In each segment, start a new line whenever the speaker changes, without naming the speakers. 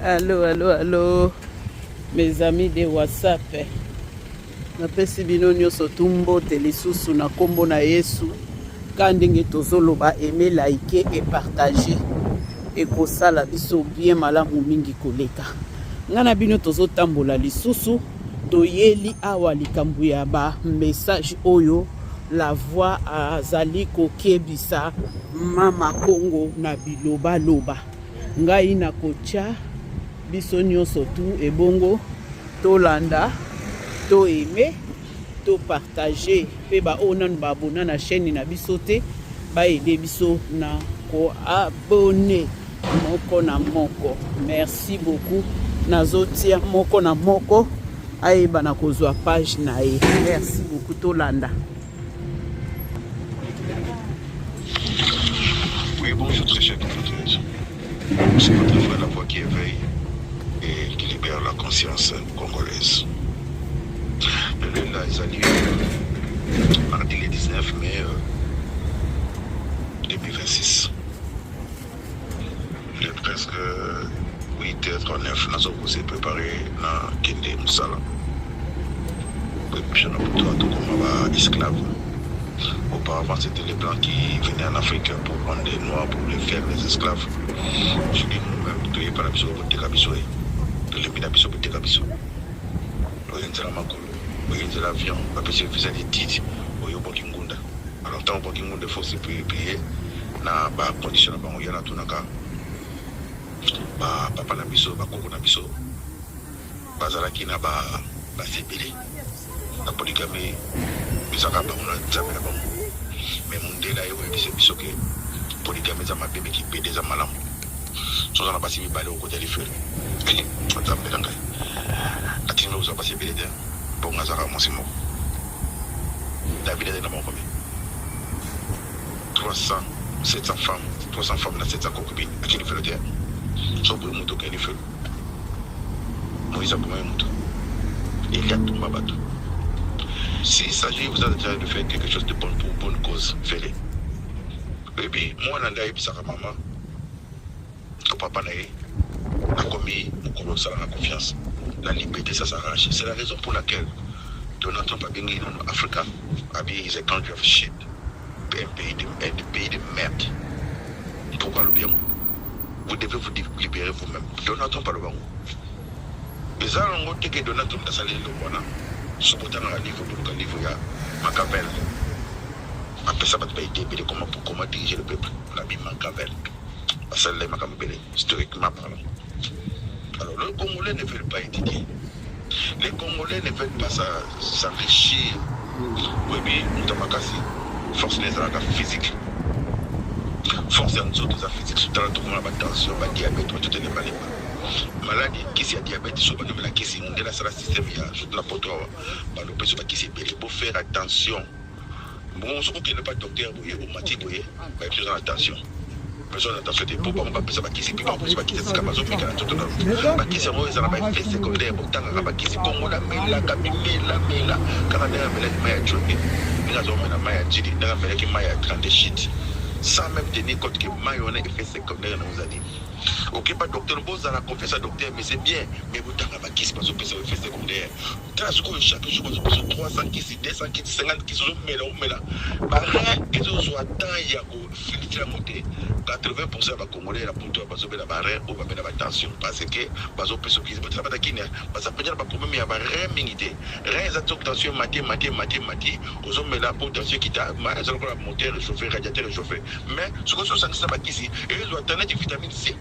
Allô, allô, allô. Mes amis de WhatsApp. napesi bino nyonso tu mbote lisusu na nkombo na yesu ka ndenge tozoloba aime like e partage ekosala biso bien malamu mingi koleka ngai na bino tozotambola lisusu Toyeli awa likambo ya ba message oyo la voix azali kokebisa mama Kongo na bilobaloba. Ngai nakotya biso nyonso tu ebongo tolanda to aime to partage mpe baoyo nanu baabona na chaîne na biso te baede biso na koabone moko na moko merci beaucoup nazotia moko na moko ayeba na kozwa page na ye merci beaucoup tolanda
Oui, bonjour, très chers compatriotes. C'est votre voix, la voix qui éveille et qui libère la conscience congolaise. Le lundi, ils allaient euh, mardi le 19 mai euh, 2026. Il est presque 8h39 nazo ko se préparer na kende musala koepusha na butu ya tokoma ba esclave auparavant c'était les blancs qui venaient en Afrique pour prendre des noirs pour les faire les esclaves je dis nous-même toyeba na biso koteka biso ye tolembi na biso koteka biso oyo nzela makolo Oye nzela avion bapesi yo visa de tite oye obwaki ngunda alors tango obwaki ngunda faut se plier na ba condition na bango yana tunaka ba papa na biso ba koko na biso bazalaki na ba basi ebele na poligami ezaka bango na nzambe na bango mais mundela ye oyebisa biso ke poligami eza mabe me kipede eza malamu soki oza na basi mibale okotya lifelo eh, nzambe na ngai atindi oza basi ebele te bongo azaka mwasi moko david azali na bankome 300 700 femmes 300 femmes na 700 concubine atya lifelo te soki boye moto okende lifelo moïse abomaki moto eli atumba bato s'il s'agit vous êtes en train de faire quelque chose de bon pour bonne cause fele Oyebi, mwana nde ayebisaka mama to papa na ye akomi mokolo osala na confiance na libete ça s'arrache c'est la raison pour laquelle donald trump abengi nano africa abi is a country of shit un pays de, un pays de merde pourquoi alobi yango vous devez vous libérer vous-même donald trump alobi yango eza yango te ke donald trump asali eloko wana soki otangaka livre boluka livre ya makabele Apesa batu ba idee ebele comment pour comment diriger le peuple na bi Mankavel basalela ye makambo ebele historiquement parlant alors le congolais ne veulent pas étudier les congolais ne veulent pas s'enrichir oyebi moto makasi force na ezalaka physique force ya nzoto eza physique sotala tokomona batension badiabete batoto elembalemba maladi kisi ya diabete so bandomela kisi mondele asala systeme ya surtout na poto awa balopesi bakisi ebele bofere attention mbongo mosusu kokende pa docteur boye omati boye bayebi oza na tension besoin na tension te mpo bango bapesa bakisi mpe bakosi bakisi esika bazomeka na nzoto na yo bakisi yango eza na baeffet secondaire botangaka bakisi bongo namelaka mimela mela kaka ndenge amelaki mai ya jote ndenge azomela mai ya jili ndenge amelaki mai ya grande shite sans même tenir compte que mai wana effet secondaire na ozali okepa docteur bozala confiance ya docteur mais c'est bien mais botanga bakisi bazopesa effet secondaire Tala sikoyo chaque jour bazo pesa 300 kisi, 200 kisi, 50 kisi ozo mela omela. Ba rein ezo zwa temps ya ko filtre yango te. 80% ya ba congolais na poto bazo bela ba rein ou ba bela ba tension parce que bazo pesa kisi. Bo tala bana kin hein, baza penza na ba problème ya ba rein mingi te. Rein eza soki tension emati emati emati emati ozo mela po tension ekita mais eza lokola moteur echauffe, radiateur echauffe. Mais soki ozo sangisa ba kisi ezo zwa temps neti vitamine C.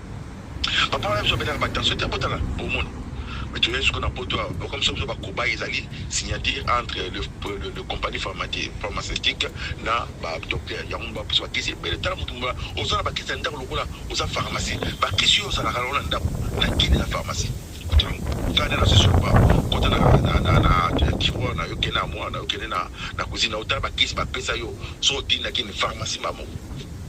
Papa wana biso abetaka ba tension te abotaka bomoni mais toyei siko na poto awa bakomisa biso bakobai ezali signature entre le, le, le compagnie pharmaceutique na badocteur yango mba biso bakisi ebele tala motu mba oza na bakisi ya ndako lokola oza pharmacie bakisi oyo ozalaka nango na ndako na kini na pharmacie kanda na sesio ba kota na na na na tiroir na yo kende na mwana na yo kende na na cuisine na yo tala bakisi bapesa yo so otindaki ni pharmacie mamo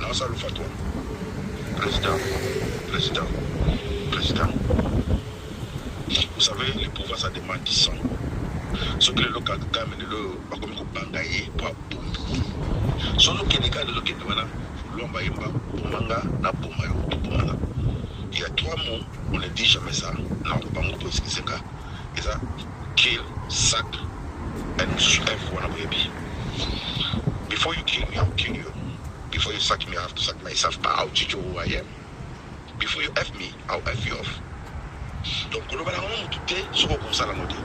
Naza lufa toi president president president vous savez le pouvoir ça demande du sang soki lelo kagame lelo oyo bakomi kobanga ye mpo abombi soki okende kaka lelo okende wana lomba yemba bomanga na boma yo tobomana il y a trois mots on ne dit jamais ça na bango boesikiseka eza kill sac and mosusu f wana boyebi before you kill me i'll kill you before you sack me i have to sack myself but i'll teach you who i am before you f me i'll f you off donc kolobana ngo motu te soki okosala ngo te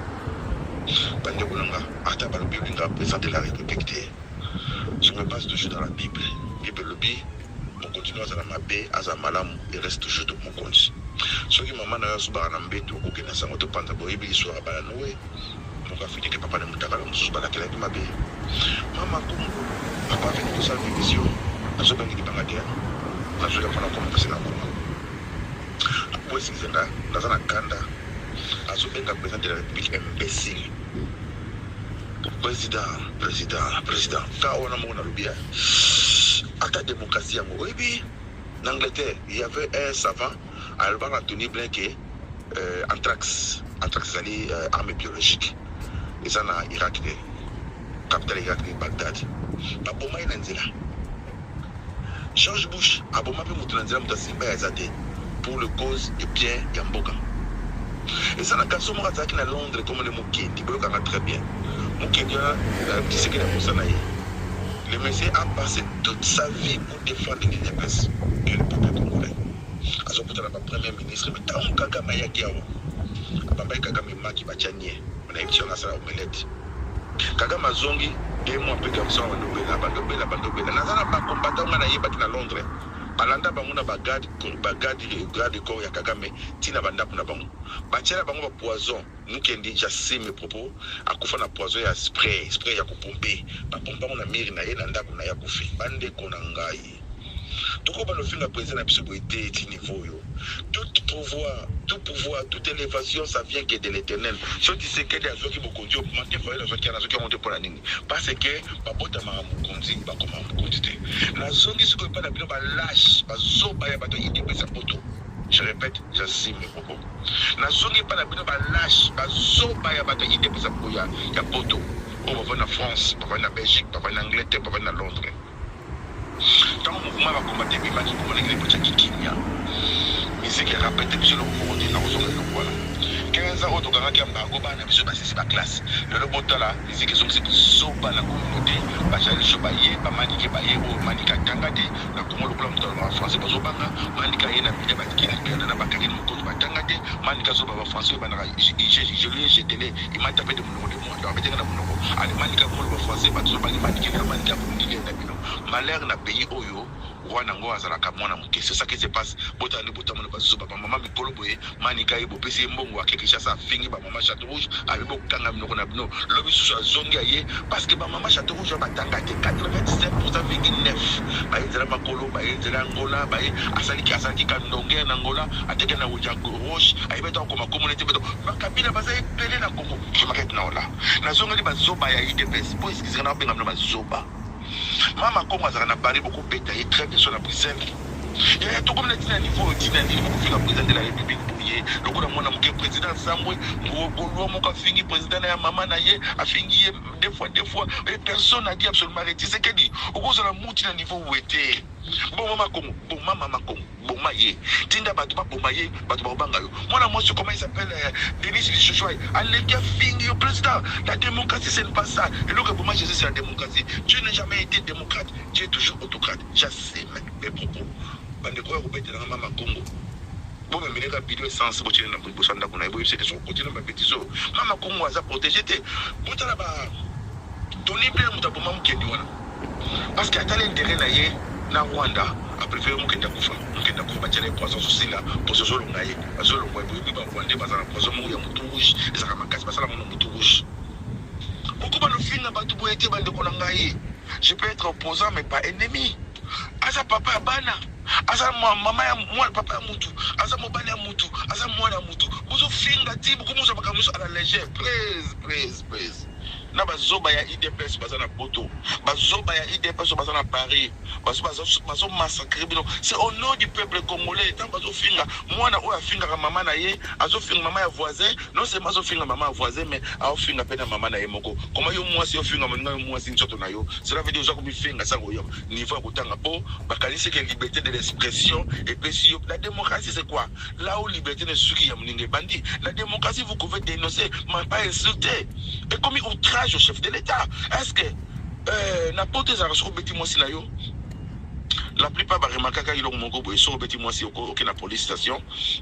bandeko na nga ata balobi olinga président de la république te sur mes bases de jeu dans la bible bible elobi Mokonzi no azala mabe azala malamu il reste toujours de mokonzi soki mama nayo azubaka na mbetu okoke na sango to panza boyebi liswaka bala noe moko afini ke papa na mutakala mosusu balakelaki mabe mama ko papa afini kosala division azobangi libanga te nazweli yango na koma kasi na koma akwesizenga naza na kanda azobenga president de la république imbécile président président président ka wana moko nalobi ya Ata democratie yango oyebi na Angleterre il y avait un savant alobaka na Tony Blair ke euh, anthrax anthrax ezali euh, arme biologique eza na Irak de capitale Irak de Bagdad baboma ye na nzela George Bush aboma mpe moto na nzela moto asimba ya eza te pour le cause et bien ya mboka eza na garçon moko azalaki na londres komone mokendi boyokaka très bien mokendi wana kisekeli ya mosana ye Le monsieur a passe toute sa vie pour defendre l'udps et le peuple congolais. Azo kutana ba premier ministre mais tango kagame ayaki awa abambaki kagame maki batia nie na emission na sala omelette. Kagame azongi deux mois pe garçon awa ndobela bandobela bandobela naza na ba combattant nga na yebaki na Londres alanda bango na ba garde ba garde garde corps ya kagame ti na ba ndaku na bango batiela bango ba poison Mukendi j'assume mes propos akufa na poison ya spray spray ya kopompe bapompa ngo na mire na ye na ndako na ye akufi bandeko na ngai tokoba lofinga president na biso boye te ti niveau oyo tout pouvoir tout pouvoir toute élévation ça vient que de l'éternel so tisekedi azwaki bokonzi oyo mante fayele azwaki yana azwaki yango te mpo na nini parce que babotamaka mokonzi bakoma mokonzi te nazongi sikoyo epai na bino balache bazoba ya bato ya idepesa poto je répète j'assume mes propos Na zongi epai na bino ba lache, ba zoba ya bato ya udps ya boya ya poto oyo bavandi na France, bavandi na Belgique, bavandi na Angleterre, bavandi na Londres. Tango mouvement ya ba combattants ebimaki, bomo ndenge nini botiaki kimia. Miziki ya rapete biso eloko moko te, nakozonga eloko wana. 15 ans oyo tokangaki embargo, bana na biso basisi ba classe, lelo botala. Musique ezongisi buzoba na communaute ba jaloux baye ba manike baye oyo manike atanga te na congo lokola mutu alobaka français bazo banga manike aye na media batiki na piana na bakangeli mokonzi batanga te manike azoba ba français oyebandaka igeluye jetele imata pe de munoko de moi donc betenge na munoko ale manike abongoloba français batu zobangi manike nde manike abundile na bino malheur na pays oyo Roi na ngo azalaka mwana muke c'est ça qui se passe botala nde botambo na bazozo ba maman mikolo boye manika ye bopesi ye mbongo ake Kinshasa afingi ba maman chateau rouge abi bokanga minoko na bino lobi susu azongi aye parce que ba maman chateau rouge batanga te 97,9 baye nzela makolo baye nzela Angola baye asaliki asalaki ka ndonge na Angola ateke na wuja roche aye beto akoma komona te beto bakabila baza ebele na Congo je m'arrête na ola nazongeli bazoba ya idps po esikisika na benga bino bazoba Mama Kongo azalaka na Paris boko beta ye très bien sur la Bruxelles. Yaya tokomi na tina niveau oyo tina nini boko fika président de la République boye lokola mwana moke président Sambwe ngolwa moko afingi président na ya mama na ye afingi ye deux fois deux fois et personne n'a dit absolument rien. Tshisekedi okozala muti na niveau wete. Bon mama Kongo, bon mama Kongo. Boma ye. Tinda batu ba boma ye, batu bako banga yo. Mwana mwasi comment il s'appelle euh, Denise Lishushuai aleki afingi yo president. La democratie c'est ne pas ça. Eloko eboma Jesus c'est la democratie. Dieu n'est jamais été democrate, Dieu est toujours autocrate. J'assume mes propos. Bandeko ya kobetela nga mama Kongo. Bome mileka bido essence botiele na boibosa ndako na ye boyebisa ete soko kotiele babetize oyo mama Kongo aza protege te. Botala ba Tony Blair moto aboma mokendi wana. Parceque atali interet na ye na Rwanda apreferer mokende akufa mokende akufa batiala ye poison azosila poison ezolonga ye azolongwa ye boyebi ba Rwandais baza na poison moko ya mutu rouge ezalaka makasi basala ngo na mutu rouge bokoba lofinga bato boye te bandeko na ngai je peux être opposant mais pas ennemi aza papa ya bana aza mama ya mwana papa ya mutu aza mobali ya mutu aza mwana ya mutu bozofinga ti bokomosa makambo nyonso à la légère praise praise praise na ba zoba ya udps baza na poto ba zoba ya udps oyo baza na paris bazo bazo bazo massacre bino c'est au nom du peuple congolais tant bazo finga mwana oyo afingaka mama na ye azo finga mama ya voisin non seulement azo finga mama ya voisin mais azo finga pe na mama na ye moko koma yo mwasi ofinga moninga yo mwasi nzoto na yo cela veut dire oza komifinga sa koyoka niveau ya kotanga po bakanisi ke liberté de l'expression epesi yo la démocratie c'est quoi Là où liberté ne suki ya muninga ebandi, la démocratie vous pouvez dénoncer, mais pas insulter. Ekomi outrage au chef de l'État. Est-ce que euh, na poto ezalaka soki obeti mwasi na yo la plupart baremarkaka eloko moko boye soki obeti mwasi oko- oke na police station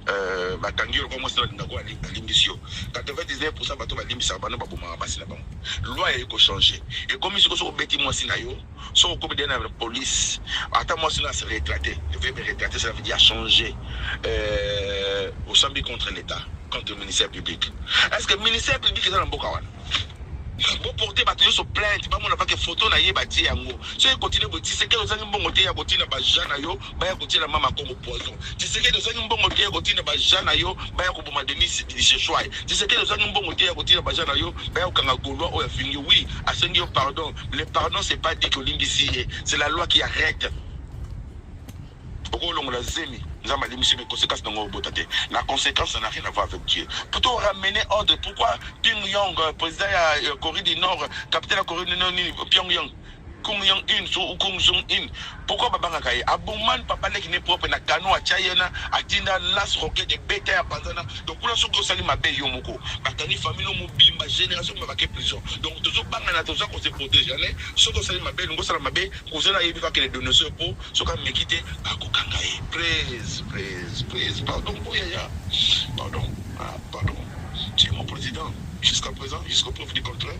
euh, bakangi yo lokola mwasi na balinga ko ali- alimbisi yo 99 pourcent bato balimbisaka bano babomaka basi na bango loi ya ekochange ekomi soki soki obeti mwasi na yo soki okomi de na police ata mwasi na se retrate veuille me retrate cela veut dire achanger euh, osambi contre l'état contre ministère public est ce que ministère public eza na mboka wana boporte bato nyonso plainte bamona pake foto na ye batie yango soki continue botisekele ozangi mbongo te ya kotina baja na yo baya kotiela mama kongo poison tshisekedi ozangi mbongo te ya kotinda baja na yo baya koboma denis disheshwai tshisekedi ozangi mbongo te ya kotinda baja na yo baya kokanga gaulois oyo afingi oui asengi yo pardon le pardon c'est pas dit que olimbisi ye c'est la loi qui arrête okolongola zemi nzambe alimbisi me conséquence nango obota te la conséquence ça n'a rien à voir avec dieu plutôt ramener ordre pourquoi pyongyang président ya corée du nord capitaine ya corée du nord nini pyongyang Kung Young In so ou Kung Jong In pourquoi babangaka ye aboman papa leki ne propre na kano atya ye na atinda las roquette ebeta ya panzana donc kuna soki osali mabe yo moko bakangi famille mobimba génération mobimba bake prison donc tozobangana toza kose protege ale soki osali mabe elingi osala mabe kozela ayebi kaka le donoseur mpo soki ameki te bakokanga ye praise praise praise pardon mpo yaya pardon ah, pardon tu es mon président jusqu'à présent jusqu'au preuve du contraire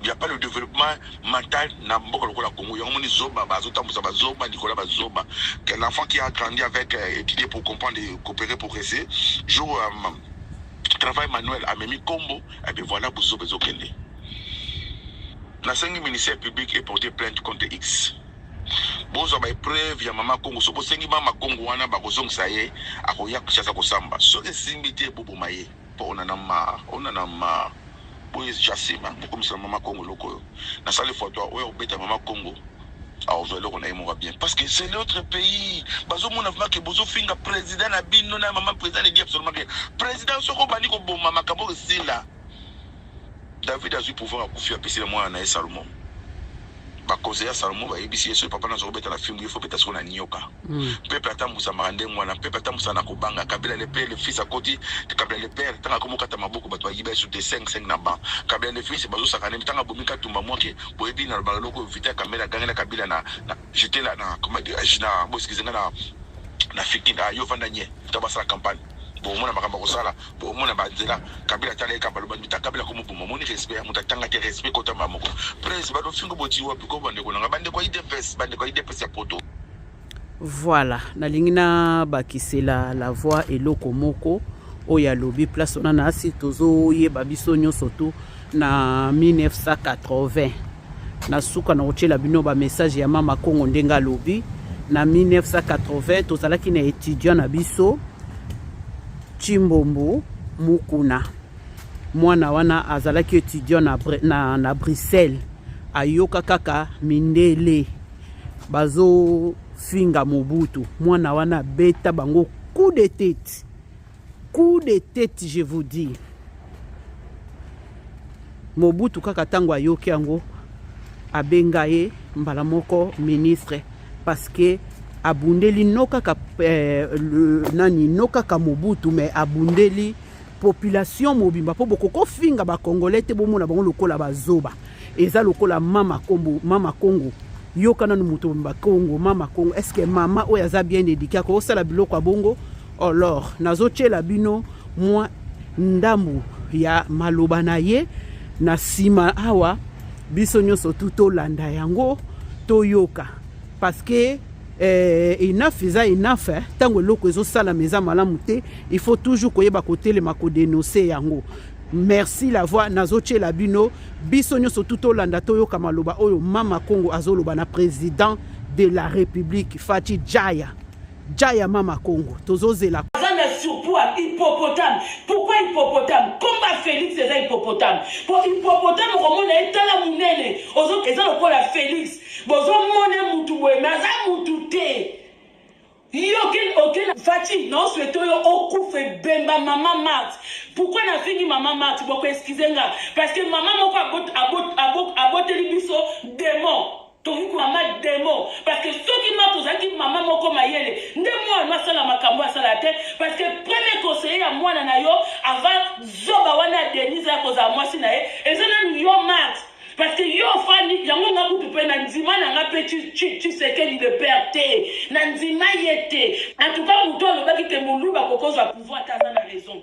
Il n'y a pas le développement mental na mboka lokola Congo. Yango moni zoba ba zo tambusa ba zoba Nicolas ba zoba. Que l'enfant qui a grandi avec euh, étudier pour comprendre et coopérer progresser jour euh, travail manuel amemi combo et eh bien voilà buzo bezo kende. Na sengi ministère public et porter plainte contre X. bozwa baepreuve ya mama kongo soki osengi mama kongo wana bakozongisa ye akoya kishasa kosamba soki esimbi te boboma ye Po on en a marre, on en a marre boye ja sima bokomisa mama kongo eloko oyo na sale fois toi oya kobeta mama kongo akozwa eloko na ye moko bien parce que c'est notre pays bazomona vraiment ke bozofinga président na bino na mama président ne dit absolument rien président soko obandi koboma makambo oyo esila David azui pouvoir akufi apesi na mwana na ye Salomon ba conseil ya Salomon ba yebisi ye soki papa na zoko beta na fimbu ye faut beta siko na nioka mm. peuple atambusa maka ndenge wana peuple atambusa na kobanga kabila le père le fils akoti kabila le père tanga komo kata maboko bato bayiba yesu te 5 5 na ba kabila le fils bazo sakana tanga bomi katumba mwake boyebi na lobala loko vita kamera agangela kabila na, na j'étais là na comment dire na bo excusez na na fikin ah yo vanda nye to basala campagne bomona makambo akosala bomona banzela kabila tala ye kabaloba mita kabila komoboma omoni respect ya moto atanga te respect kotamba moko prince badofingo boti wapi ko bandeko nanga bandeko ya idps bandeko ya idps ya poto
voilà nalingi nabakisela la voix eloko moko oyo alobi place wana na asi tozoyeba biso nyonso tu na 1980 na suka na kotyela bino bamessage ya mama kongo ndenge alobi na 1980 tozalaki na étudiant na biso chimbombo mukuna mwana wana azalaki étudiant na, na, na bruxelles ayoka kaka mindele bazofinga mobutu mwana wana abeta bango coup de tete Coup de tete je vous dis. Mobutu kaka tango ayoki yango abenga ye mbala moko ministre parce que abundeli no kaka eh, le, nani no kaka Mobutu mais abundeli population mobimba mpo bokokofinga bacongolais te bomona bango lokola bazoba eza lokola mama kombo mama kongo yoka nanu moto bakongo mama kongo estce mama oyo aza bien édike akosala biloko ya bongo Olor, nazotyela bino mwa ndambu ya maloba na ye na nsima awa biso nyonso tu tolanda yango toyoka parceke eh, enough eza enough eh. ntango eloko ezosalama eza malamu te il faut toujours koyeba kotelema kodenonse yango merci la voix nazotyela bino biso nyonso tu tolanda toyoka maloba oyo mama congo azoloba na président de la république fati jaya Ja ya mama Congo tozo zela. Aza na surtout à
hippopotame. Pourquoi hippopotame? Combat Felix eza hippopotame. Pour hippopotame okomona ye tala munene. Ozo eza lokola Felix. Bozo mone mutu boye mais aza mutu te. Yo ken oken Fatshi na osweto yo okufe bemba mama Mart. Pourquoi na fingi mama Mart? Boko excuse nga parce que mama moko abot abot abot aboteli biso démon. Tokoki komama demo parce que soki nga tozalaki mama moko mayele nde mwana no asala makambo asala te parce que premier conseiller ya mwana na yo avant zoba wana ya Denise ya kozala mwasi na ye eza nanu yo Marx parce que yo ofandi yango nga kutu mpe na ndima na nga mpe tshisekedi de père te na ndima ye te en tout cas moto alobaki te moluba kokozwa pouvoir te aza na raison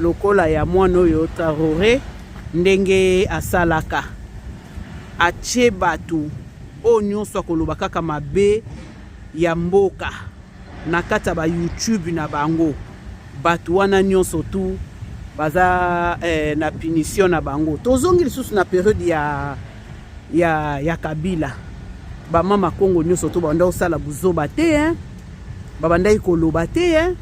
lokola ya mwana oyo Traore ndenge asalaka atie bato oyo nyonso akoloba kaka mabe ya mboka na kati ya ba YouTube na bango bato wana nyonso tu baza eh, na punition na bango tozongi lisusu na periode ya, ya, ya kabila bamama kongo nyonso to babandaki kosala buzoba te eh? babandaki koloba te eh?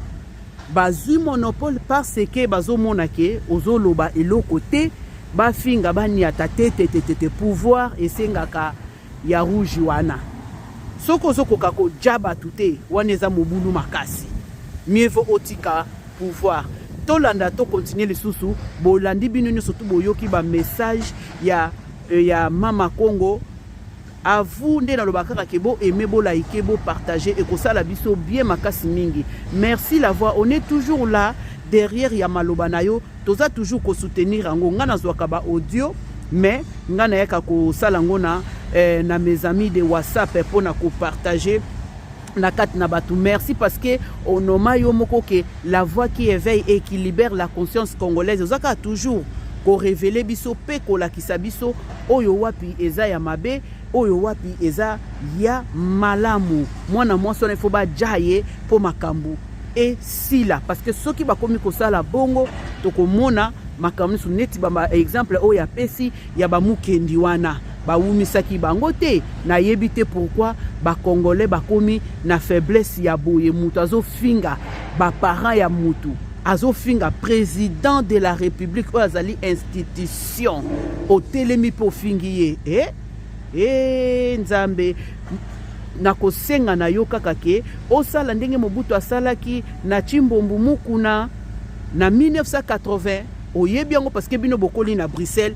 Bazui monopole parce que bazomona ke ozoloba eloko te bafinga baniata te te te te pouvoir esengaka ya rouge wana soki ozokoka koja bato te wana eza mobulu makasi mieux vaut otika pouvoir tolanda to continuer lisusu bolandi bino nyonso tu boyoki ba message ya, euh, ya mama Congo A vous nde naloba kaka ke bo aime bo like bo partager ekosala biso bien makasi mingi. Merci la voix on est toujours là derrière ya maloba na yo toza toujours ko soutenir yango nga nazwaka ba audio mais nga nayaka kosala yango na eh, na mes amis de WhatsApp mpo na ko partager na kati na bato merci parce que onoma yo moko ke la voix qui éveille et qui libère la conscience congolaise oza kaka toujours korevele biso mpe kolakisa biso oyo wapi eza ya mabe oyo wapi eza ya malamu mwana mwasi wana ifo baja ye mpo makambo esila parce que soki bakomi kosala bongo tokomona makambo nyonso neti exemple oyo apesi ya bamukendi wana bawumisaki bango te nayebi te pourquoi bacongolais bakomi na faiblesse ya boye moto azofinga baparent ya motu azofinga président de la république oyo azali institution otelemi mpe ofingi ye e eh? e eh, nzambe nakosenga na yo kaka ke osala ndenge mobutu asalaki na chimbombu mukuna na 1980 oyebi yango parce que bino bokoli na bruxelles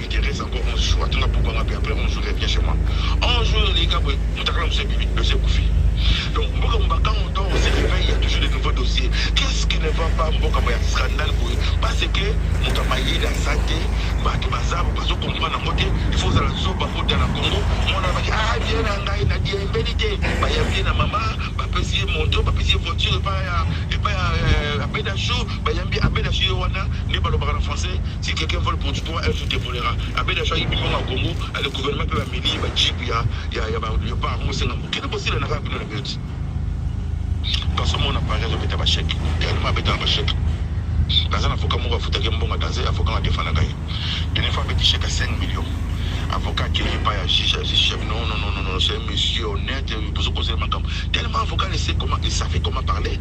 Therèse encore 11 jours atuna pourquoi nga pe après 11 jours revient chez moi 11 jours eleki ka boye mutakala mosusu ebimi dossier ekufi donc mboka mobaka on doit on se réveille il y a toujours de nouveaux dossiers qu'est-ce qui ne va pas mboka ya scandale boye parce que moto ya mayele aza te bato baza bazo comprendre yango te il faut ozala zoba kota na congo mwana abaki ah bien na ngai na diembeli te bayambi ye na mama bapesi ye moto bapesi ye voiture epai ya epai ya euh, abedachou bayambi abedachou ye wana nde balobaka na français Si quelqu'un vole pour du poids, un jour te volera. Abed achoaki bino na Congo, a le gouvernement pe ba meli ba jeep ya ya ya ba leopard mo senga mo. Kende ko sila na ka bino na but. Baso mona Paris azo beta ba chèque. Tellement abeta na ba chèque. Naza na avocat moko afutaki mbongo danze avocat na defana kai. Dene fa beti chèque 5 millions. Avocat qui est pas ya juge, ya juge chef. Non non non non, c'est un monsieur honnête, bozo causer makambo. Tellement avocat ne sait comment, il savait comment parler.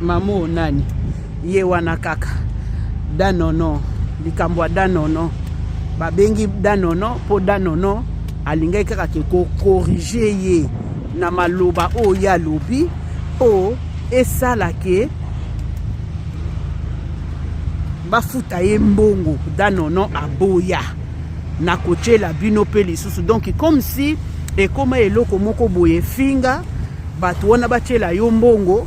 Mamu o nani? Ye wana kaka. Danono. Likambo ya Danono. Babengi Danono mpo Danono alingaki kaka ke ko corriger ye na maloba oyo ye alobi mpo esala ke bafuta ye mbongo danono aboya na kotyela bino mpe lisusu donc comme si ekoma eloko moko boye efinga bato wana batyela yo mbongo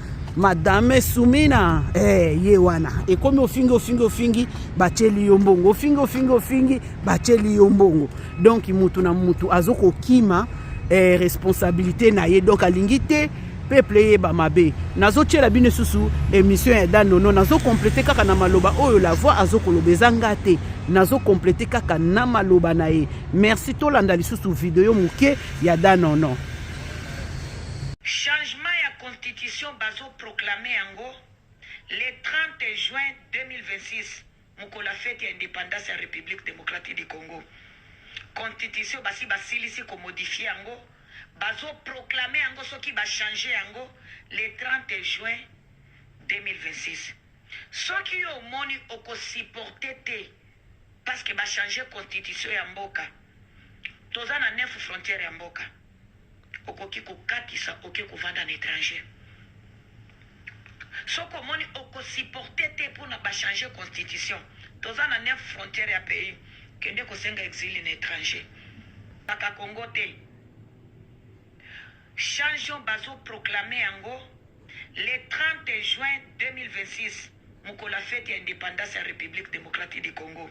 madame sumina eh, ye wana ekomi ofingi ofingi ofingi batyeli yo mbongo ofingi ofingi ofingi batyeli yo mbongo donk motu na motu azo kokima eh, responsabilité na ye donk alingi te peuple eyeba mabe nazotyela bino lisusu émission ya danono nazokomplete kaka na maloba oyo la voix azokoloba eza nga te nazokomplete kaka na maloba na ye merci tolanda lisusu video moke ya danono
constitution bazo proclamer yango le 30 juin 2026 mokolo ya fete ya independance ya Republique Democratique du Congo. Constitution basi basilisi ko modifier yango, bazo proclamer yango soki ba changer yango le 30 juin 2026. Soki yo omoni oko supporter te parce que ba changer constitution ya mboka, toza na 9 frontières ya mboka. Okoki kokatisa oke kovanda na etranger soki omoni oko supporter te pona ba changer constitution toza na 9 frontiere ya pays kende kosenga exile na etranger kaka congo te changeon bazo proclame yango le 30 juin 2026 mokolo ya fete ya independance ya republique democratique du congo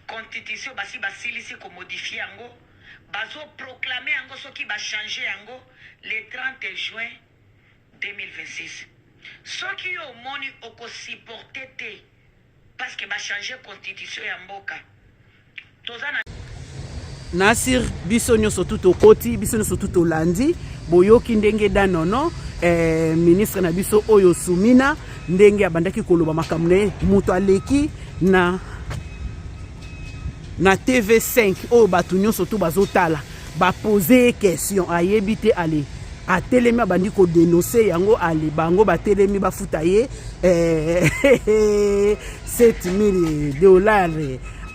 constitution basi basilisi komodifie yango Bazo proclamer yango soki ba changer yango le 30 juin 2026. Soki yo omoni oko supporter te parce que ba changer constitution ya mboka. Toza na
Nasir biso nyoso tout okoti biso nyoso tout olandi boyoki ndenge danono eh, ministre na biso oyo Sumina ndenge abandaki koloba makambo na ye moto aleki na na tv5 oyo bato nyonso to bazotala bapose ye question ayebi te ale atelemi abandi kodenonse yango ale bango batelemi bafuta ye 7000 eh, dollar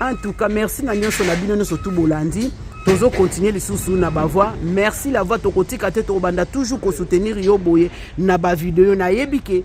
en tout cas merci na nyonso na bino nyonso tu bolandi tozo continuer lisusu na bavoix merci la voix tokotika te tokobanda toujours kosoutenir yo boye na bavideo nayebi ke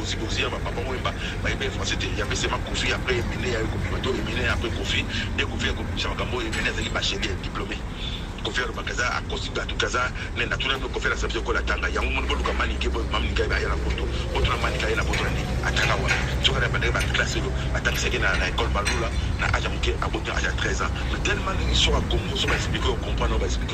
Zigozia ba papa wemba ba yebi français te ya pese ma koffi après emene ya ko bima to emene ya après koffi de koffi ya ko bimisa makambo oyo emene azali bachelier diplome koffi alo bakaza a kosi batu kaza ne na tuna no koffi na sabise ko la tanga yango mon bolu ka mani ke bo mam ni ka ba ya na poto poto na mani ka ya na poto ni atanga wa tsoka na bande ba classe yo atanga seke na na école balula na aja muke abota aja 13 ans mais tellement ni so a kongo so ba explique ko comprendre ba explique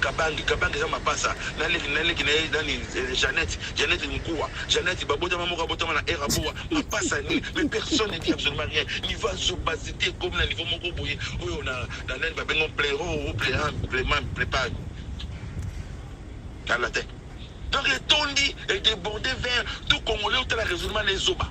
Kabange kabange eza mapasa na leki na leki na ye nani eh, Jeannette Jeannette Mukua Jeannette babotama moko abotama na era boa mapasa nini mais personne ne dit absolument rien niveau ya zobazite ekomi na niveau moko boye oyo na na nani babengo plero ou plera plema plepa tala te donc etondi edeborde vers tout congolais otala raisonnement na ezoba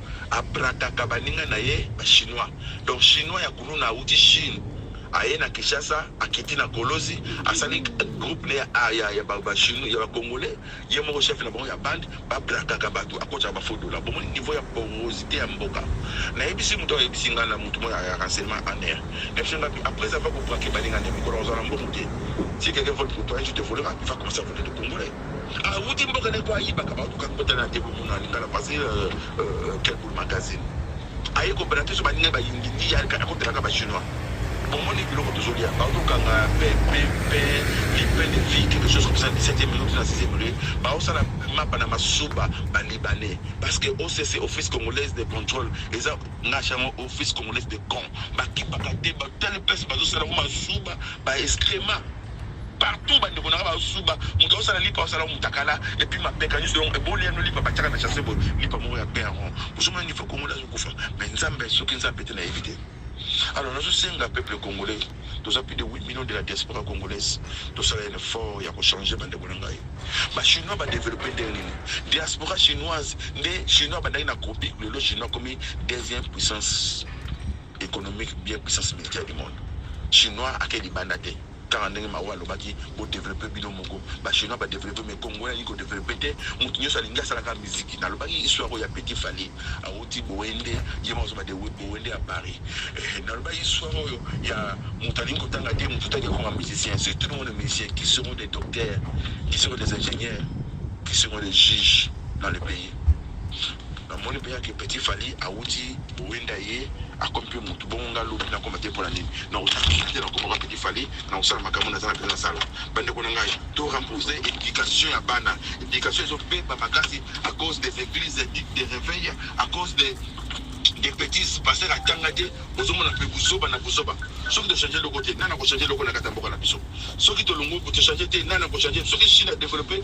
abrakaka baninga na ye ba chinois donc chinois ya kuluna awuti chine aye na kinshasa akiti na kolozi asali groupe ne ya, ah, ya, ya, ba, ba, chino, ya bacongolais ye moko chef na bango ya bande babrakaka bato akotaka bafodola bomoni niveau ya porosité ya mboka nayebisi moto ayebisi ngai na moto moko ya renseignement en air nayebisi ngai après avoir kobrake baninga nde mikolo ozala mbongo te si quelqu'un vole pour toi je te volera il va commencer à voler de congolais awuti mboka ne po ayibaka bato kaka botala na te bomona alingala pase euh, euh, kelbul magazine aye kobela te so baninga bayindi ndi yalika akotelaka bachinois bomoni biloko tozolia baotokanga pepe lipe de vie quelque chose comme ça 17e minute na 6e minute baosala mapa na masuba balibanais parce que occ office congolaise de contrôle eza ngashango office congolaise de con bakipaka te batali place bazosala ngo masuba baescrema Partout ba ndeko nanga bazo suba, mutu azo sala lipa azo sala mutakala et puis mapeka nioso donc eboli y'a no lipa ba tiaka na chasse boye lipa moko y'a bien rond ozo mona niveau congolais azo kufa mais nzambe soki nzambe te na yebi te alors nazo senga peuple congolais toza plus de 8 millions de la diaspora congolaise tosala un effort ya ko changer ba ndeko na ngai ba chinois ba développer ndenge nini diaspora chinoise nde chinois bandaki na copie lelo chinois komi deuxième puissance economique bien puissance militaire du monde chinois ake libanda te kaka ndenge mawa alobaki bodevelope bino moko bachinois badevelope me kongo yaki kodevelope te moto nyonso alingi asalaka miziki nalobaki histoire oyo ya petit fali awuti boende ye moko azobade boende ya paris eh, nalobaki histoire oyo ya moto alingi kotanga te moto taki akoma musicien c'est tout le monde musicien qui seront des docteurs qui seront des ingénieurs qui seront des juges dans le pays Na moni penza que petit Fally awuti bowenda ye akomi pe mutu bongo nga lobi na koma te pona nini na kosala musique te na koma ka petit Fally na kosala makambo na zala penza na sala bande ko na ngai to remposer education ya bana education ezo beba makasi à cause des églises dites de réveil à cause des des petits passer la tanga te ozo mona pe buzoba na buzoba soki to changer loko te nana ko changer loko na kata mboka na biso soki to longo ko to changer te nana ko changer soki chine a développer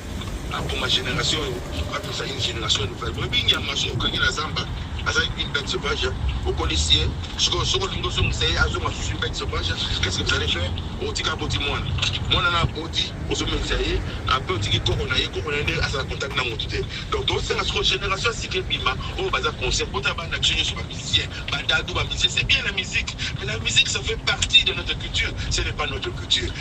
Aboma generation oyo apesa une generation nouvelle boyebi ngi ya maso okangi na zamba aza une bête sauvage okolisi ye sikoyo soko olingi ozongisa ye azonga susu bête sauvage qu'est-ce que vous allez faire otika aboti mwana mwana na aboti ozomemisa ye apres otiki koko na ye koko na ye nde asala contact na motu te donc tosenga sikoyo génération sika ebima oyo baza conscient bota bana biso nyonso bamusicien badadu bamusicien c'est bien la musique mais la musique ça fait partie de notre culture ce n'est pas notre culture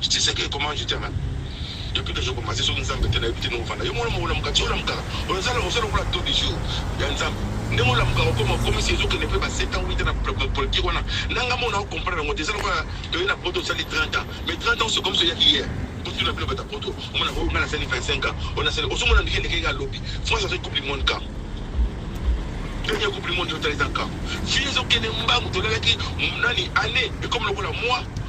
Tshiseke comment je t'aime depuis que je commence soki nzambe te nayebi te ndenge ofanda yo mwana moko olamuka ti olamukaka ozala ozala okola to du jour ya nzambe ndenge olamukaka okoma okomisi ezokende mpe ba 7 ans wite na politique wana nanga mona ocomprendre yango te eza lokola toye na poto osali 30 ans mais 30 ans se comme soyaki hier butu na bino bata poto omona oyo nga nasali 25 ans oyo nasali ozomona ndenge ndenge nga lobi france azali coupe du monde camp premier coupe du monde yotala eza camp fille ezokende mbangu tolalaki nani année ekomi lokola moi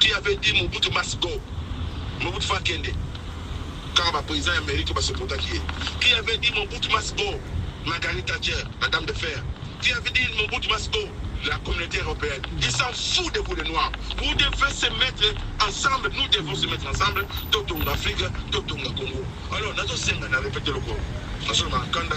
Qui avait dit Mobutu must go? Mobutu faut akende. Kaka ba presidents ya Amerique ba supportaki ye. Qui avait dit Mobutu must go? Margaret Thatcher, la dame de fer. Qui avait dit Mobutu must go? La communauté européenne. Ils s'en foutent de vous les noirs. Vous devez se mettre ensemble, nous devons se mettre ensemble. Totonga Afrique, totonga Congo. Alors, nazo senga na répéter le corps. Nazo na kanda.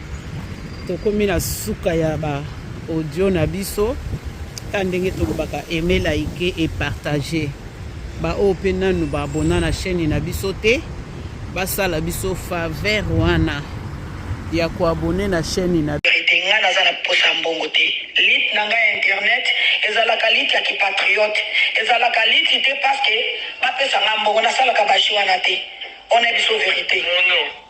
tokomi na suka ya ba audio na biso ta ndenge tolobaka aime like et partage baoyo mpe nanu baabona na chaîne na biso te basala biso faveur wana ya koabone na chaîne na verite ngai naza na posa
ya mbongo te lite na ngai ya internet ezalaka lite ya kipatriote ezalaka lite te parceke bapesa ngai mbongo nasalaka bashi wana te wana biso verite no, no.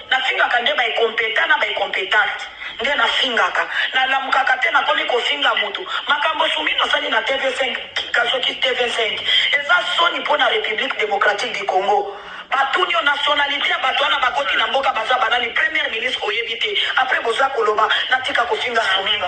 Na fingaka nde ba incompetent na ba incompetente nde na fingaka na lamukaka te na komi ko finga mutu makambo sumino asali na tv5 kasoki tv5 eza soni mpo na republique democratique du congo batuni yo nationalite ya bato wana bakoti na mboka baza banani premier ministre oyebi te apres boza koloba natika kofinga sumino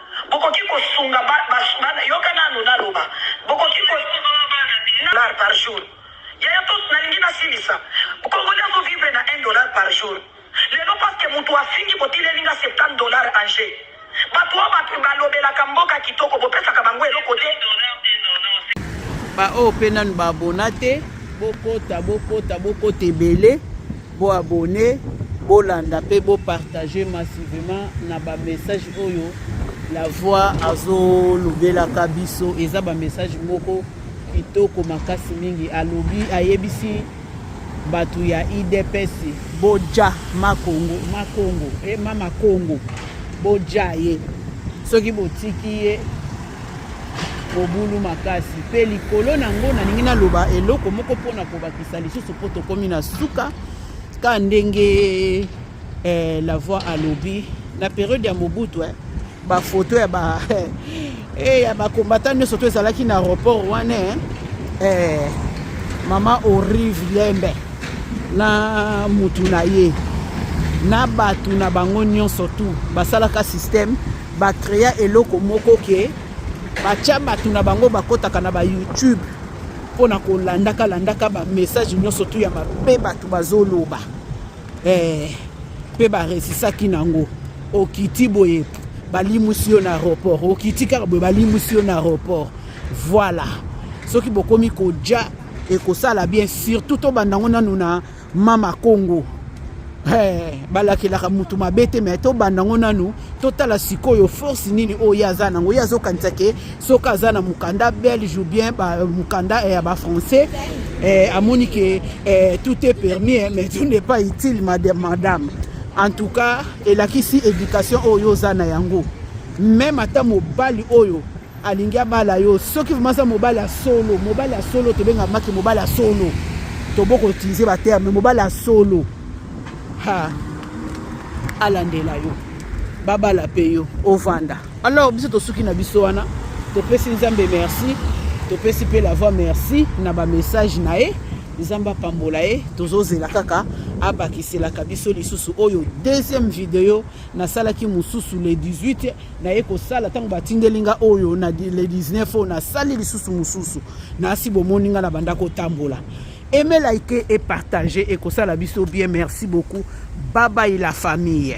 Bokoki kosunga ba, ba, bana yoka nanu naloba. Bokoki ko dollar par jour. Yaya to nalingi nasilisa. Congolais azo vivre na 1 dollar par jour. Lelo parce que mutu afingi botileli nga 70 dollar en jeu. Bato oyo bato balobelaka mboka kitoko bopesaka bango eloko te. Ba
oyo pe nanu ba abona te bokota bokota bokota ebele. Bo abonner, bolanda pe bo partager massivement na ba messages oyo la voix azolobelaka biso eza ba message moko kitoko makasi mingi alobi ayebisi bato ya idps boja makongo makongo e eh, mama kongo boja ye soki botiki ye Mobulu makasi mpe likolo na yango nalingi naloba eloko moko mpo na kobakisa lisusu mpo tokomi na suka ka ndenge eh, la voix alobi na periode ya mobutu eh, bafoto ya ba eh, ya bakombata nyonso to ezalaki na aéroport wana eh, eh, mama orive lembe na mutu na ye na bato na bango nyonso tu basalaka systeme Ba crea eloko moko ke batya bato na bango bakotaka na ba YouTube mpo na kolandaka landaka ba message nyonso tu ya mabe bato bazoloba eh, mpe baresisaki nango okiti boye balimwisi yo na aéroport okiti kaka boye balimwisi yo na aéroport voilà soki bokomi koja ekosala bien surtout tobanda ngo nanu na mama kongo Hey, balakelaka mutu mabe te me tobanda yango nanu totala sikoyo force nini oyo ye aza nango ye azokanisa ke soki aza na mokanda belge ou bien mokanda eh, ya bafrançais eh, amoni ke eh, tout est permis eh, mais tout n'est pas utile madame, madame. en tout cas elakisi éducation oyo oza na yango meme ata mobali oyo alingi abala yo soki vraimen aza mobali ya solo mobali ya solo tobenga maki mobali ya solo toboko utilize baterme mobali ya solo ha alandela yo babala mpe yo ovanda alors biso tosuki na biso wana topesi nzambe merci topesi mpe la voix merci na bamessage na ye nzambe apambola ye tozozela kaka abakiselaka biso lisusu oyo deuxième video nasalaki mosusu le 18 naye kosala ntango batindeli nga oyo na le 19 oyo nasali lisusu mosusu nasi bomoni nga na banda kotambola aime like et partage ekosala biso bien merci beaucoup babai la famille